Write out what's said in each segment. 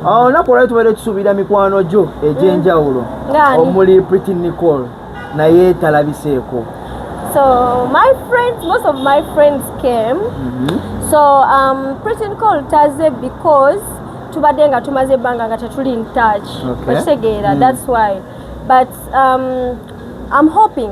olunaku olwali tubaire tusuubira mikwano gyo egy'enjawulo mm. omuli pretty nicole naye talabiseeko so my friends most of my friends came mm -hmm. so um, pretty nicole taze because tubadde nga tumaze ebbanga nga tetuli in touch okitegeera okay. mm. that's why but um, i'm hoping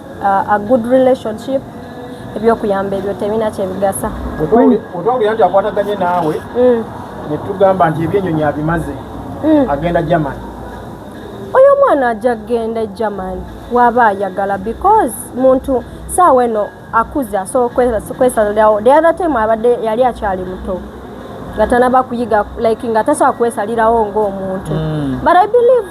a good relationship ebyokuyamba ebyo tebina kyebigasa otwawulira nti akwataganye naawe mm. netugamba nti ebyenyonyi abimaze mm. agenda german oyo omwana ajja kugenda e german waba ayagala because muntu saawa eno akuze asobola kwesalirawo the other time abadde yali akyali muto nga tanaba kuyiga like nga tasobola kwesalirawo ngaomuntu mm. but i believe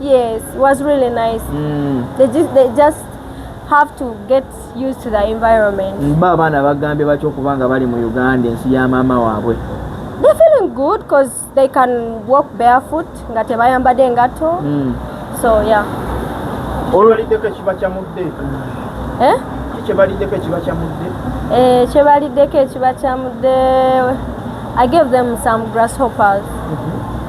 Yes, it was really nice. Mm. They just they just have to get used to the environment. Mba mm, abaana bagambye batyo okuba nga bali mu Uganda ensi ya maama waabwe. They feeling good because they can walk barefoot nga tebayambadde engatto. Mm. So yeah. Olwaliddeko ekiba kyamudde. Eh? Kyebaliddeko ekiba kyamudde. Eh, kyebaliddeko ekiba kyamudde. I gave them some grasshoppers. Mm -hmm.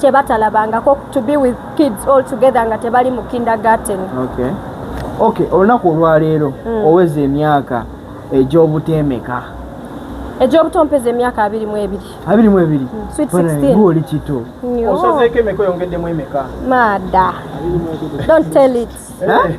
kyebatalabangako to be with kids all together nga tebali mu kindergarten okay. okay olunaku olwaleero mm. oweza emyaka egyobutemeka egyobuto mpeza emyaka abiri mu ebiri abiri mu ebiri mm. sweet 16 oli kito osazeeko emeka oyongeddemu emeka mada don't tell it eh?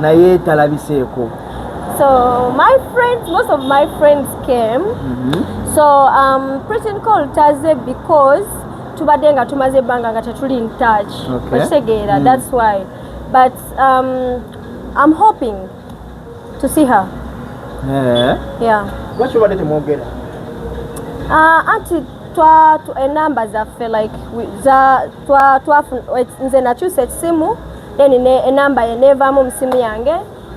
naye talabiseeko so my friends most of my friends came mm -hmm. so um, preaching call taze because tubadde nga tumaze ebbanga nga tetuli in touch okitegeera okay. mm. that's why but um, i'm hoping to see her yeah. yeah. lwaki obadde temwogera uh, anti twa enamba zaffe like za nze nakyusa ekisimu then enamba ye nevamu musimu yange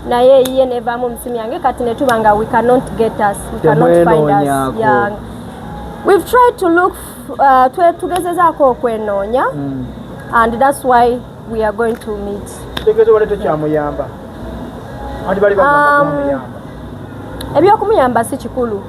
naye ye nevamu musimu yange kati netuba nga we cannot get us we cannot find us yeah. we've tried to look uh, tugezezaako okwenoonya mm. and that's why we are going to meet um, ebyokumuyamba si kikulu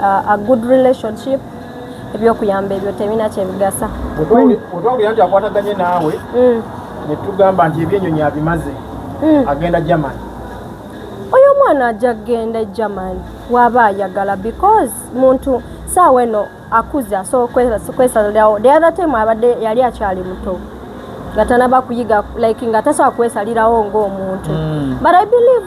uh, a good relationship ebyokuyamba ebyo tebina kyebigasa otwawulira nti akwataganye naawe mm. netugamba nti ebyenyonyi abimaze mm. agenda german oyo omwana ajja kugenda german waba ayagala because muntu saawa eno akuze asobola kwesalirawo the other time abadde yali akyali muto nga tanaba kuyiga like nga tasobola kwesalirawo ngaomuntu mm. but i believe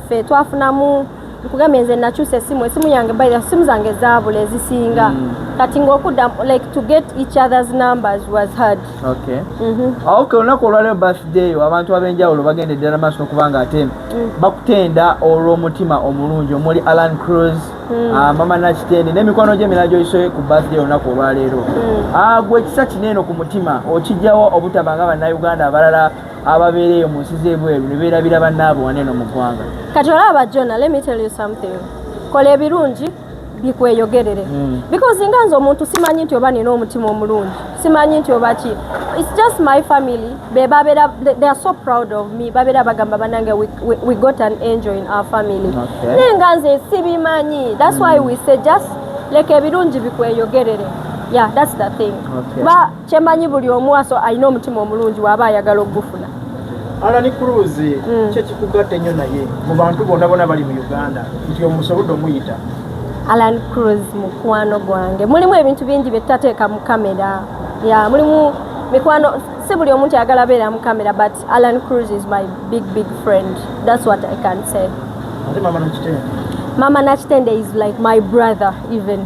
ffe twafunamu nkugambye nze nakyusa esimu esimu yange by esimu zange zaabula ezisinga mm. kati ngaokudda like to get each other's numbers was hard okay mm-hmm. ah, okay olunaku olwaleo birthday abantu ab'enjawulo bagenda eddala maaso nokuba nga ate mm. bakutenda olw'omutima omulungi omuli alan cruz mm. ah, mama nakitende n'emikwano gy'emira gyoyisoe ku birthday olunaku olwaleero mm. ah, gwe ekisa kineeno ku mutima okijjawo obutabanga bannauganda abalala ababeera eyo mu nsi z'ebweru ne beerabira bannaabwe wane eno mu ggwanga kati olaba jona let me tell you something kola ebirungi bikweyogerere hmm. because nga nze omuntu simanyi nti oba nina omutima omulungi simanyi nti oba ki its just my family bebabeera they are so proud of me babeera bagamba banange we got an angel in our family naye nga nze sibimanyi that's why hmm. we say just leka ebirungi bikweyogerere yeah that's the thing okay. But, kyemanyi buli omu aso alina omutima omulungi waaba ayagala okugufuna alani cruz mm. kyekikugatta ennyo naye mu bantu bona bona bali mu uganda nti omusobodde omuyita alan cruz mukwano gwange mulimu ebintu bingi byetutateeka mu kamera ya mulimu mikwano si buli omuntu ayagala beera mu kamera but alan cruz is my big big friend thats what i can say mama nakitende is like my brother even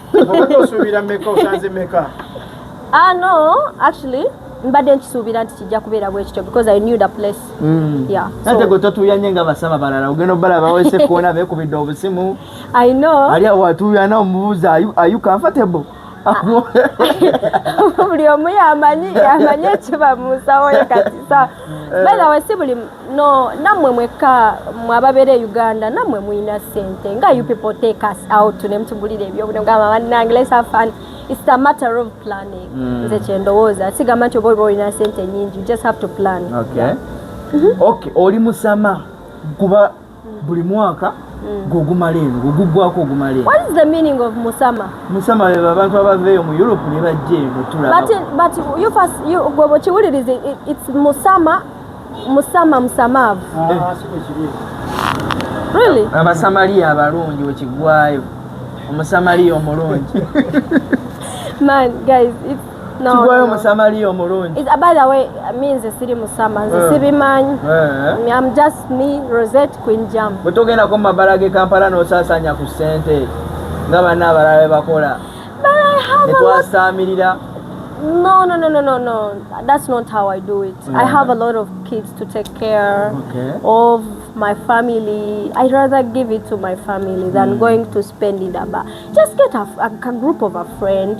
osuubira meka osanze meka ah no actually mbadde nkisuubira nti kijja kubeera bwekityo because i knew the place mm. yeah ate gwe totuuya nye nga basaba balala ogenda obala bawese kuona bekubidde obusimu i know ali awo atuuya na omubuuza are you comfortable ah. buli omu yamanyi yamanyi ekiba munsawo ye kati Eh. by the way si buli no namwe mwekka mwababeera e uganda namwe mulina sente nga you people take us out nemutugulira ebyobuna gamba banange let's have fun it's a matter of planning hmm. nze mm. kyendowooza sigamba nti oba oba olina sente nyingi you just have to plan okay, yeah. mm -hmm. okay oli musama kuba buli mwaka mm. gwogumala eno gwegugwako ogumala eno what is the meaning of musama musama bebe abantu abaveeyo mu europe ne bajja eno tulabagwebokiwuliriza its musama musama musamaavu ah, eh. really abasamaliya abalungi wekigwayo omusamaliya omulungi man guys it's kigwayo musamaliya omulungi is by the way me nze siri musama nze eh. sibimanyi eh. i'm just me rosette queen jam bwetogenda ko mumabala ge kampala nosasanya ku sente nga banna abalala bebakola netwasaamirira No, no, no, no, no, no. That's not how I do it. Yeah. I have a lot of kids to take care okay. of my family. I'd rather give it to my family than mm. going to spend it. Just get a, a, a group of a friend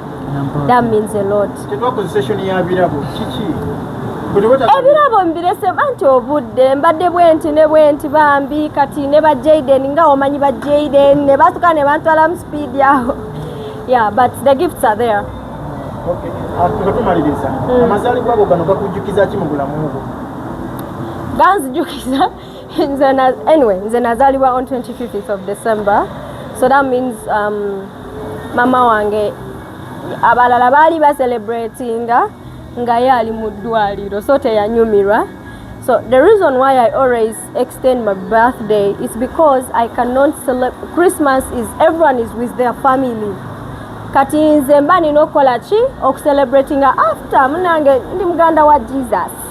That means a lot. ebirabo mbirese anti obudde mbadde bwenti ne bwenti bambi kati ne ba jaden nga omanyi ba jaden ne batuka ne bantwala mu speed yaho yeah but the gifts are there ah, tumaliriza mm. amazalibwa ago gano gakujjukiza ki mu bulamu bwo ganzijukiza nze na anyway nze nazalibwa on 25th of december so that means um, mama wange abalala baali bacelebratinga nga ye ali mu ddwaliro so teyanyumirwa so the reason why i always extend my birthday is because i cannot celeb christmas is everyone is with their family kati nze mba nina okukola ki okucelebratinga after munange ndi muganda wa jesus